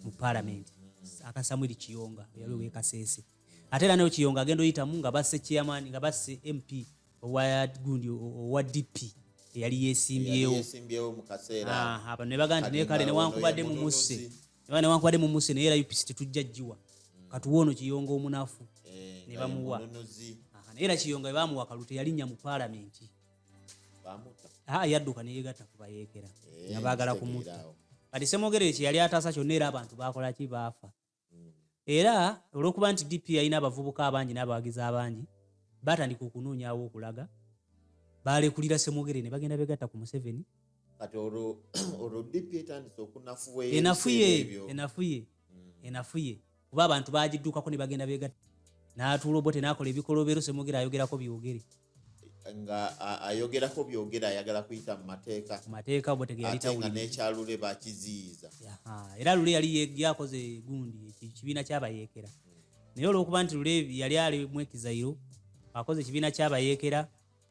C: mu palamenti mm. aka samuel kiyonga yali owekasese ate era nayo kiyonga agenda oyitamu nga basse chairman nga basse mp owa gundi owa dp eyali yesimbyewo
B: bano nebaga nti nekale
C: newankubadde mumusse eba newankubadde mumuse naye era upc tetujja jjiwa katuwa ono kiyonga omunafu eh, ne bamuwa naye era kiyonga bebamuwa kalu teyalinnya mu paalamenti ah, yadduka neyegatta kubayeekera eh, nga baagala kumutta kati semwogerere kyeyali ataasa kyonna era abantu bakolaki baafa hmm. era olwokuba nti dp yalina abavubuka abangi n'abawagizi abangi batandika okunoonyawo okulaga balekulira semwogere ne bagenda begatta ku museveni
B: enafuye
C: enafuye kuba abantu bagiddukako ne bagenda begat n'atuula obote n'akola ebikolobero semwogera ayogerako byogere nga
B: ayogerako byogera ayagala kuyita mu mateeka mu mateeka obote geyalitatenga
C: n'ekyalule
B: bakiziyiza era lule
C: yali yakoze gundi ekibiina kyabayeekera naye olwokuba nti lule yali ali mwekizayiro akoze ekibiina kyabayeekera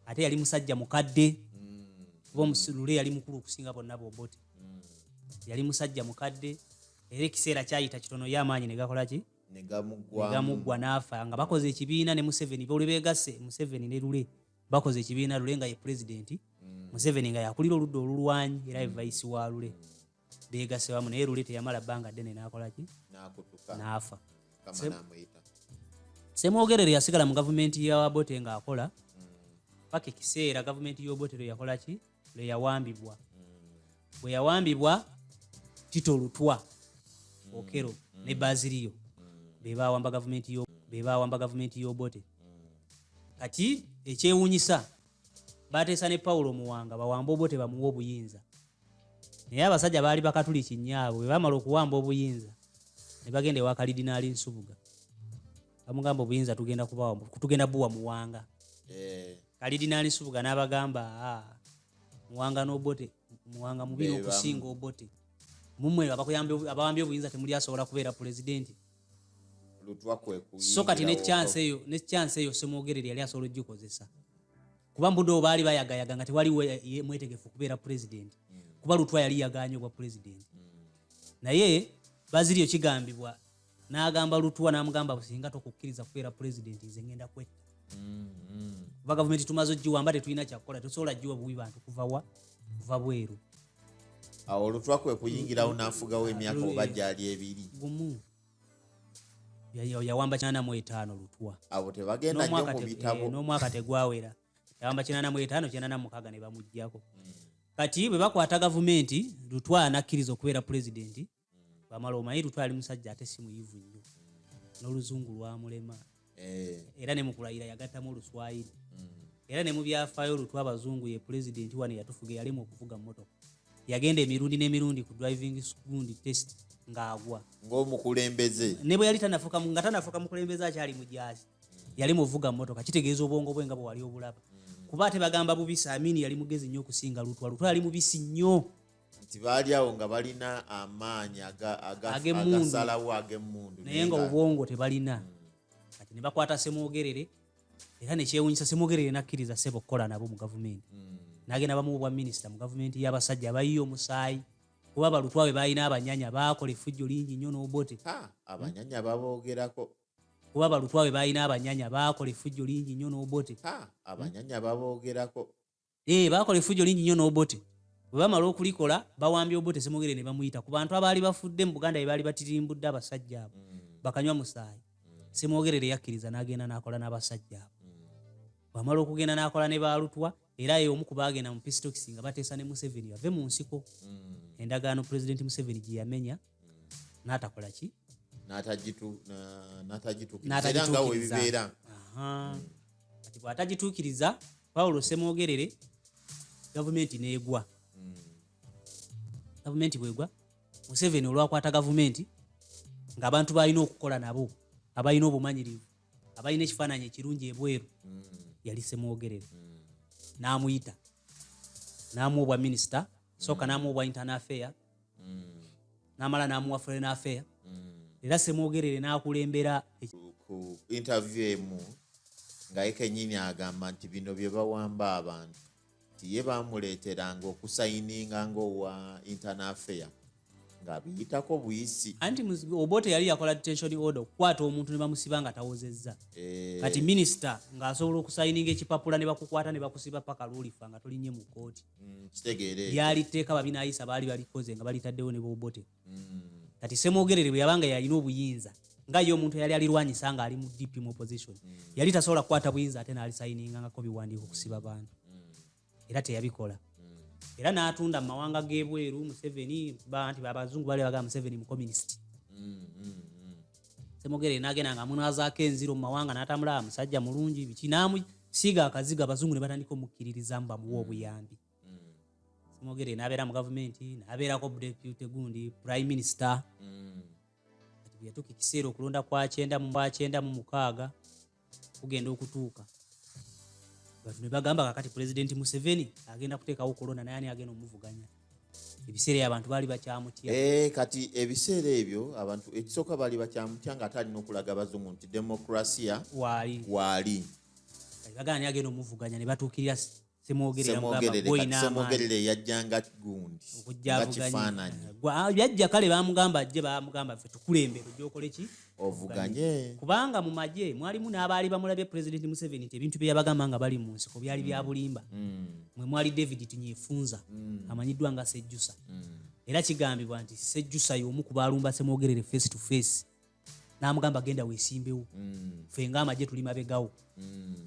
C: ate yali musajja mukadde kuba omusulule yali mukulu okusinga bonna bobote yali musajja mukadde era ekiseera kyayita kitono ye amaanyi negakolaki negamuggwa n'afa nga bakoze ekibiina ne museveni buli begasse museveni ne lule bakoze ekibiina lule nga ye pulezidenti mm. museveni nga yakulira oludda olulwanyi era ye mm. vaisi wa lule beegase wamu naye luli teyamala bbanga ddene n'akolaki n'afa semwogerere yasigala mu gavumenti ya wabote ng'akola mm. paka ekiseera gavumenti y'obote lwe yakola ki lwe yawambibwa mm. bwe yawambibwa tito lutwa mm. okero ne baziriyo be bawamba gavumenti yo be bawamba gavumenti y'obote kati ekyewuunyisa baateesa ne pawulo muwanga bawamba obote bamuwa obuyinza naye abasajja baali bakatuliki nnyo abo bwe baamala okuwamba obuyinza ne bagenda ewa kalidinaali nsubuga bamugamba obuyinza tugenda kubawa tugenda buwa muwanga eh. kalidinaali nsubuga n'abagamba ah, muwanga n'obote muwanga mubi n'okusinga obote mumwe abawambye obuyinza temuli asobola kubeera pulezidenti so kati nekyansi eyo nekyansi eyo semwogerere yali asobola ogikozesa kuba mbude obaali bayagayaga nga tewaliwo mwetegefu okubeera pulezidenti mm. kuba lutwa yali yaganye obwa pulezidenti mm. naye baziriyo kigambibwa n'agamba lutwa n'amugamba singa tokukkiriza kubeera pulezidenti nze ngenda kwetta mm, kuba gavumenti tumaze ogiwamba tetulina kyakukola tosobola giwa buwi bantu kuvawa kuva bweru
B: awo olutwa kwe kuyingirawo n'afugawo emyaka oba gyali ebiri gumu
C: yawamba kinana mu etaano lutwa abo tebagenda nyo mu
B: bitabo eh, n'omwaka tegwawera
C: yawamba kinana mu etaano kinana mukaga ne bamuggyako hmm. kati bwe bakwata gavumenti lutwa anakkiriza okubeera pulezidenti hmm. bamala omanyi lutwa ali musajja ate si muyivu nnyo hmm. n'oluzungu lwamulema eh. era ne mukulayira yagattamu oluswayiri mm. era ne mu byafaayo olutwa abazungu ye pulezidenti wano eyatufuga eyalimu okuvuga mmotoka yagenda emirundi n'emirundi ku driving school test ng'agwa ng'omukulembeze
B: ne bwe yali tanafuka
C: nga tanafuka mukulembeze akyali mu jaasi yali muvuga mmotoka kitegeeza obwongo bwe nga bwe wali obulaba mm. kuba ate bagamba bubisi amini yali mugezi nnyo okusinga lutwa lutwa yali mubisi nnyo nti baali
B: awo nga balina amaanyi agasalawo ag'emmundu naye nga obwongo
C: tebalina hmm. kati ne bakwata semwogerere era nekyewunyisa semwogerere nakkiriza sebo okukola nabo mu gavumenti hmm. nagenda bamu obwa minisita mu gavumenti y'abasajja abayiye omusaayi kuba balutwa be balina abanyanya bakola efujjo lingi nnyo n'obote abanyanya
B: babogerako kuba balutwa
C: be balina abanyanya bakola efujjo lingi nnyo n'obote abanyanya
B: babogerako ee eh, baakola
C: efujjo lingi nnyo n'obote bwe bamala okulikola bawambye obote semugere ne bamuyita ku bantu abaali bafudde mu buganda be baali batirimbudde abasajja abo mm. bakanywa musaayi mm. semwogerere yakkiriza n'agenda n'akola n'abasajja abo mm. bwamala okugenda n'akola ne baalutwa era ye omu ku baagenda mu pisitokisi nga bateesa ne museveni bave mu nsiko endagaano pulezidenti museveni gye yamenya mm. n'atakola ki
B: n'atagitukirizaera nga webibeera
C: kati bw'atagituukiriza pawulo semwogerere gavumenti n'egwa hmm. gavumenti bwegwa museveni olwakwata gavumenti ng'abantu balina okukola nabo abalina obumanyirivu abalina ekifaananyi ekirungi ebweru hmm. yali semwogerere hmm. n'amuyita n'amu obwa minisita sooka n'amu obwa internal affair mm. namala namuwa foreign affair mm. era semwogerere nakulembera ku
B: interview emu nga ye kenyini agamba nti bino bye bawamba abantu nti ye bamuleeteranga okusayininga ngaowa internal affair nga biyitako buyisi anti obote
C: yali yakola detention order okukwata omuntu ne bamusiba nga tawozezza eh. kati minisita ng'asobola okusayininga ekipapula ne bakukwata ne bakusiba paka lwolifa nga tolinye mu kkooti mm, lyali
B: tteeka
C: babinayisa baali balikoze nga balitaddewo ne bobote mm. kati semwogerere bwe yabanga yalina obuyinza nga ye omuntu yali alirwanyisa nga ali mu dp mu opposition mm. yali tasobola kukwata buyinza ate naalisayiningangako biwandiiko kusiba bantu era teyabikola era n'atunda mu mawanga g'ebweru museveni nti abazungu bali bagaa museveni mukominisiti semogere nagenda nga amunwazaako enziro mu mawanga n'atambula musajja mulungi biki namusiiga akaziga abazungu ne batandika omukkiririzamu bamuwa mm. obuyambi mm. semogere nabeera mu gavumenti nabeerako depute gundi prime minister mm. yatuuka ekiseera okulonda kwakyenda mu bwakyenda mu mukaaga kugenda okutuuka batu ne bagamba kakati pulezidenti museveni agenda kuteekawo kolona naye ani agenda omuvuganya ebiseera abantu baali bakyamutya eh, kati
B: ebiseera ebyo abantu ekisooka baali bakyamutya nga ate alina okulaga abazungu nti demokrasia waali waali
C: bagana ni agenda omuvuganya ne batuukirira semwogerere yajja nga gundi
B: nga kifaananyi ah, yajja kale
C: bamugamba ajje bamugamba fe tukulembere ojokola ki ovuganye
B: kubanga mu magye
C: mwalimu n'abaali bamulabye president museveni nti ebintu bye yabagamba nga bali mu nsiko byali bya mm. bulimba mm. mwe mwali david tinyefunza mm. amanyiddwa nga sejjusa era kigambibwa nti sejjusa y'omu ku baalumba semwogerere face to face n'amugamba genda weesimbewo mm. fe nga amagye tuli mabegawo mm.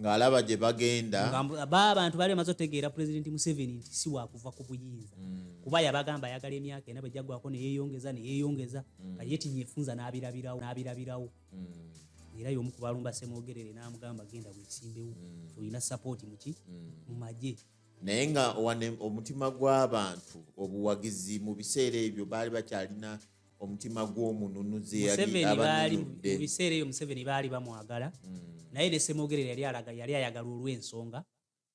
B: ng'alaba gye bagenda ba abantu bali bamaze
C: otegeera pulezidenti museveni nti si wakuva ku buyinza mm. kuba yabagamba ayagala emyaka ena bwejagwako neyeyongeza neyeyongeza mm. kati yetinya efunza n'abirabirawo n'abirabirawo mm. era y'omu ku balumba semwogerere n'amugamba genda weesimbewo mm. olina sapooti muki mm. mu magye naye nga
B: omutima gw'abantu obuwagizi mu biseera ebyo baali bakyalina omutima gw'omununuzi baali mu biseera eyo museveni
C: baali bamwagala hmm. naye ne semogerera yali alaga yali ayagala olw'ensonga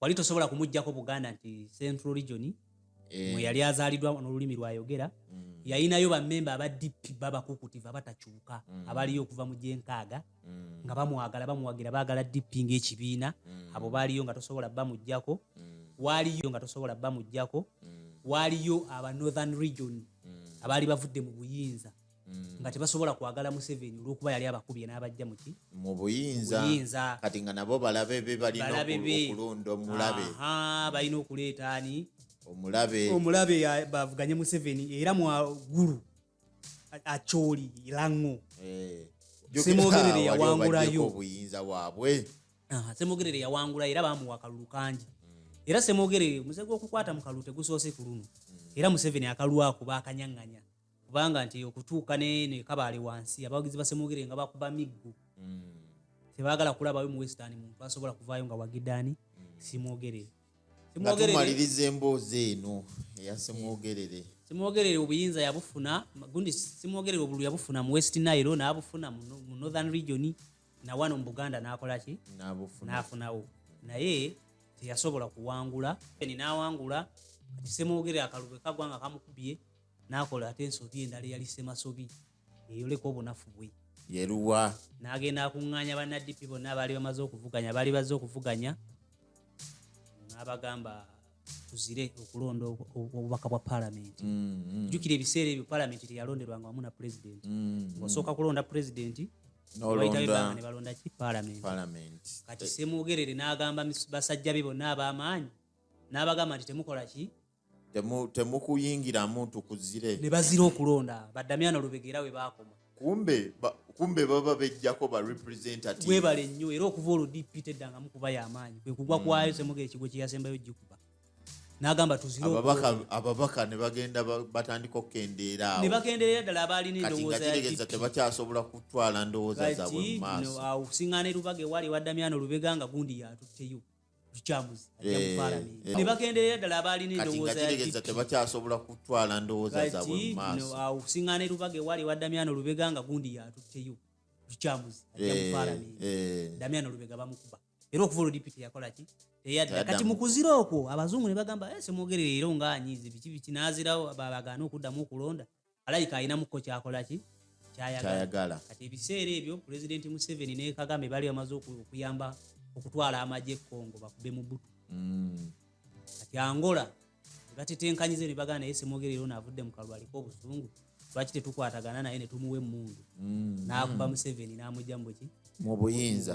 C: wali tosobola kumugjako buganda nti central region eh. mwe yali azaaliddwa n'olulimi lwayogera hmm. yayinayo bamemba aba dp babakukutiva abatakyuka hmm. abaliyo okuva mu gyenkaaga mm. nga bamwagala bamuwagira bagala dipi ngaekibiina mm. abo baaliyo nga tosobola bamugjako mm. waaliyo nga tosobola bamugjako waaliyo aba northern region abaali bavudde mu buyinza nga tebasobola kwagala museveni olwokuba yali abakubye n'abajja muki mu
B: buyinza kati nga nabo balabe be balina okulonda omulabe balina
C: okuleeta ani omulabe omulabe
B: bavuganye
C: museveni era mwagulu acholi lango eh, semogerere yawangulayo obuyinza bwabwe
B: ah, semogerere
C: yawangulayo era bamuwa akalulu kangi hmm. era semogerere omuze gwokukwata mu kalulu tegusoose ku luno hmm. era museveni akalwako bakanyanganya kubanga nti okutuuka nekabaale wansi abawagizi basemogerere nga bakuba miggo hmm. tebagala kulabayo mu western muntu asobola kuvaayo nga wagidani simwogerere nga
B: tumaliriza emboozi eno eya semwogerere eh, semwogerere obuyinza
C: yabufuna gundi semwogerere obulu yabufuna mu west nile nabufuna mu northern region nawano mu buganda nakolaki nafunawo naye teyasobola kuwangula nawangula kati semwogerere akalubwe kagwanga kamukubye nakola ate ensobi endala eyali semasobi yeyoleka obunafu bwe yeruwa
B: n'agenda akuŋŋaanya
C: bannadipi bonna abaali bamaze okuvuganya baali bazze okuvuganya n'abagamba tuzire okulonda obubaka bwa palamenti mm, mm. jjukira ebiseera ebyo palamenti teyalonderwanga wamu na pulezidenti mm, osooka kulonda pulezidenti nebalonda ki palamenti kati semwogerere n'agamba basajja be bonna ab'amaanyi n'abagamba nti temukola ki temukuyingiramu
B: nti kuzire ne bazira okulonda
C: badamyana lubegeera we baakoma kumbe kumbe
B: baba bejjako ba representative webale nnyo era okuva
C: olwo dp teddangamu kuba yamaanyi kwe kugwa kwayo hmm. semuga ekigo kye yasembayo gikuba nagamba tuzireababaka ne
B: bagenda batandika okukendeera awo ne bakendeera ddala
C: abaalina endowooza yategeza tebakyasobola
B: kutwala ndowooza
C: zabwe
B: mu
C: maaso awo
B: okusiŋŋaana
C: erubaga ewali ewaddamyana olubega
B: nga
C: gundi yatutteyo tukyamuzi ajja mu palamenti eh, eh. ne bagenderera ddala abaalina endowooza ya tebakyasobola
B: kutwala ndowooza zaabwe mu maaso awo kusiŋŋaana erubaga ewali
C: ewa damiano lubega nga gundi yatutteyo tukyamuzi ajja mu eh, palamenti damiano lubega bamukuba era okuva olwo dipiti yakola ki teyadda kati mu kuzira okwo abazungu ne bagamba semwogerera era ongaanyiize biki biki n'azirawo babagaana okuddamu okulonda alabika alinamuko kyakolaki kyayagala kati ebiseera ebyo pulezidenti museveni ne kagame bali bamaze okuyamba okutwala amagye ekongo bakube mu butu mm. kati angola ebatetenkanyize ne bagana naye semwogerero naavudde mu kalwa aliko obuzungu lwaki tetukwatagana naye netumuwa emundu mm. naakuba mm. museveni namugja muki mubuyinza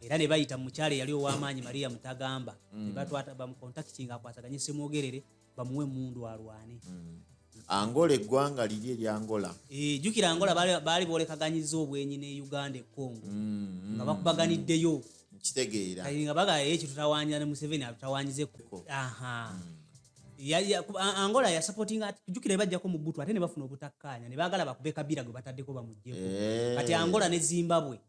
C: era ne bayita mukyalo eyali ow'amaanyi maria mutagamba ne batwata bamukontakitinga akwataganye semwogerere bamuwe emundu alwane mm. angola
B: eggwanga liri eryangola eh, jukira angola
C: baali bolekaganyiza obwenyi ne uganda econgo mm-hmm. nga bakubaganiddeyo kitegeera
B: nga bagala ye
C: kitutawanyira ne museveni atutawanyiza ekkuko mm. angola yasapotinga jukira ebajjako mu butu ate ne bafuna obutakkaanya ne baagala bakube kabira gwe bataddeko bamuggyeko eh. kati angola ne zimbabwe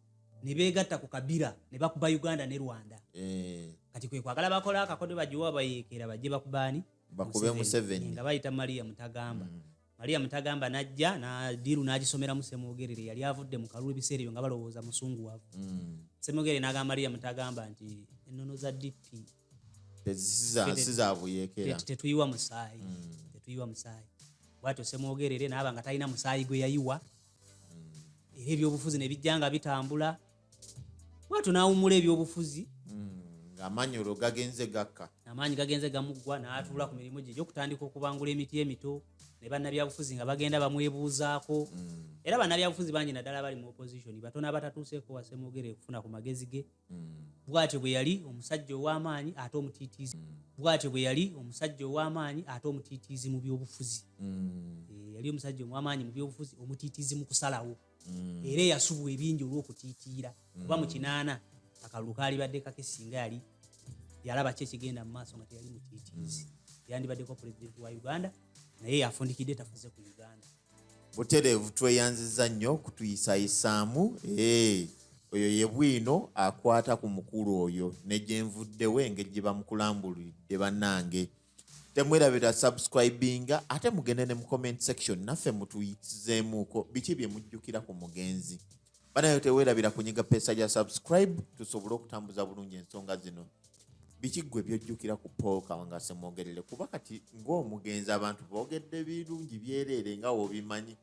C: nebegatta ku kabira nebakuba uganda ne rwanda eh. kati kwekwagala bakola akakode bagiwa bayeekera bajje bakubaani bakube museveni
B: nga bayita maria
C: mutagamba mm. maria mutagamba najja nadiru nagisomeramu semogerere yali avudde mu kalulu ebiseera ebyo nga balowooza musungu wavu mm. semogerere nagamba maria mutagamba nti enono za dp
B: tetuyiwa musaayi
C: mm. tetuyiwa musaayi bwatyo semogerere naaba nga talina musaayi gwe yayiwa mm. era ebyobufuzi nebijja nga bitambula bwatyo nawumula ebyobufuzi mm, amaanyi
B: olwo gagenze gakka amaanyi gagenze gamuggwa
C: n'atuula ku mirimu gye gyokutandika okubangula emiti emito ne bannabyabufuzi nga bagenda bamwebuuzaako mm. era bannabyabufuzi bangi naddala bali mu opposition batono abatatuuseeko wasemwogere okufuna ku magezi ge bwatyo bwe yali omusajja ow'amaanyi ate omutiitiizi mm. bwatyo bwe yali omusajja ow'amaanyi ate omutiitiizi mu byobufuzi mm. eh, yali omusajja omwamaanyi mu byobufuzi omutiitiizi mu kusalawo mm. era eyasubwa ebingi olw'okutiitiira kuba mu kinaana akalulu kaalibadde kake singa yali yalaba ki ekigenda mu maaso nga teyali mutiitiizi yandibaddeko pulezidenti wa uganda naye yafundikidde tafuze ku uganda butereevu
B: tweyanziza nnyo kutuyisayisaamu eh, oyo ye bwino akwata ku mukulu oyo ne gye nvuddewo engeri gye bamukulambulidde bannange temwerabira subscribinga ate mugende ne mu comment section naffe mutuyitizeemuuko biki bye mujjukira ku mugenzi banayo tewerabira kunyiga pesa ya subscribe tusobole okutambuza bulungi ensonga zino biki gwe byojjukira ku paul kawanga semwogerere kuba kati ng'omugenzi abantu boogedde birungi byereere nga wobimanyi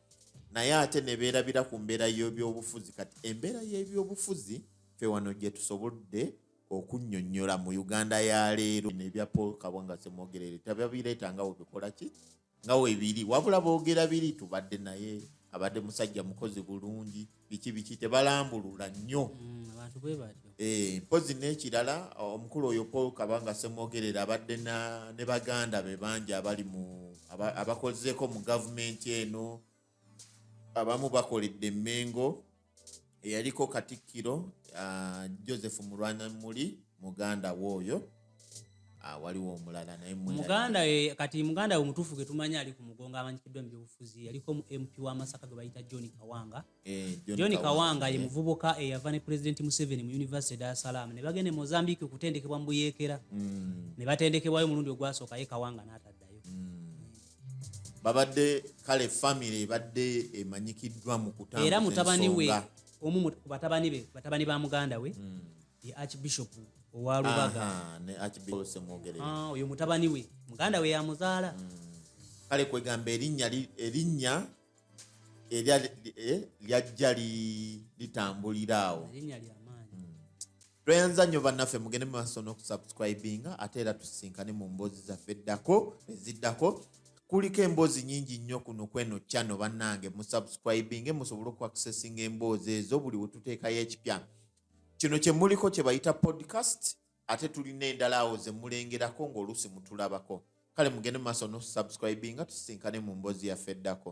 B: naye ate nebeerabira ku mbeera y'ebyobufuzi kati embeera y'ebyobufuzi fe wano gye tusobodde okunyonyola mu uganda ya leero nebya paul kawanga semwogerere tababireeta nga webikola ki nga webiri wabula boogera biri tubadde naye abadde musajja mukozi bulungi biki biki tebalambulula nnyo mm,
C: eh, mpozi
B: n'ekirala omukulu oyo paul kabanga semwogerera abadde ne baganda be bangi abali mu abakozeeko mu gavumenti eno abamu bakoledde emmengo eyaliko katikkiro uh, joseph mulwana muli muganda we oyo Ah, waliwo omulala naye muganda kati
C: muganda we mutuufu ge tumanyi ali ku mugongo amanyikiddwa mu byobufuzi yaliko mu mp wa masaka gwe bayita john kawanga eh, john kawanga ye eh. muvubuka eyava ne pulezidenti museveni mu univesity dar es salaam ne bagenda e mozambique okutendekebwa mu buyeekera mm. ne batendekebwayo omulundi ogwasooka ye kawanga n'ataddayo mm. babadde
B: kale famire ebadde emanyikiddwa mu kutambuza era mutabani we
C: omu ku batabani be batabani ba muganda we hmm. ye archbishop owa lubaga ah,
B: oyo mutabani we
C: muganda we yamuzaala hmm. kale
B: kwegamba erinnya erinnya lyajja eh, litambulira awo
C: tweyanza
B: nnyo bannaffe mugende mu maaso n'okusubscribinga ate era tusisinkane mu mboozi zaffe eddako eziddako kuliko emboozi nyingi nnyo kuno kweno kyano bannange musubscribinge musobole okuaccessinga emboozi ezo buli wetuteekayo ekipya kino kyemuliko kyebayita podcast ate tulina endala awo zemulengerako ng'oluusi mutulabako kale mugende mu maaso n'okusubscribinga tusisinkane mu mboozi yaffe eddako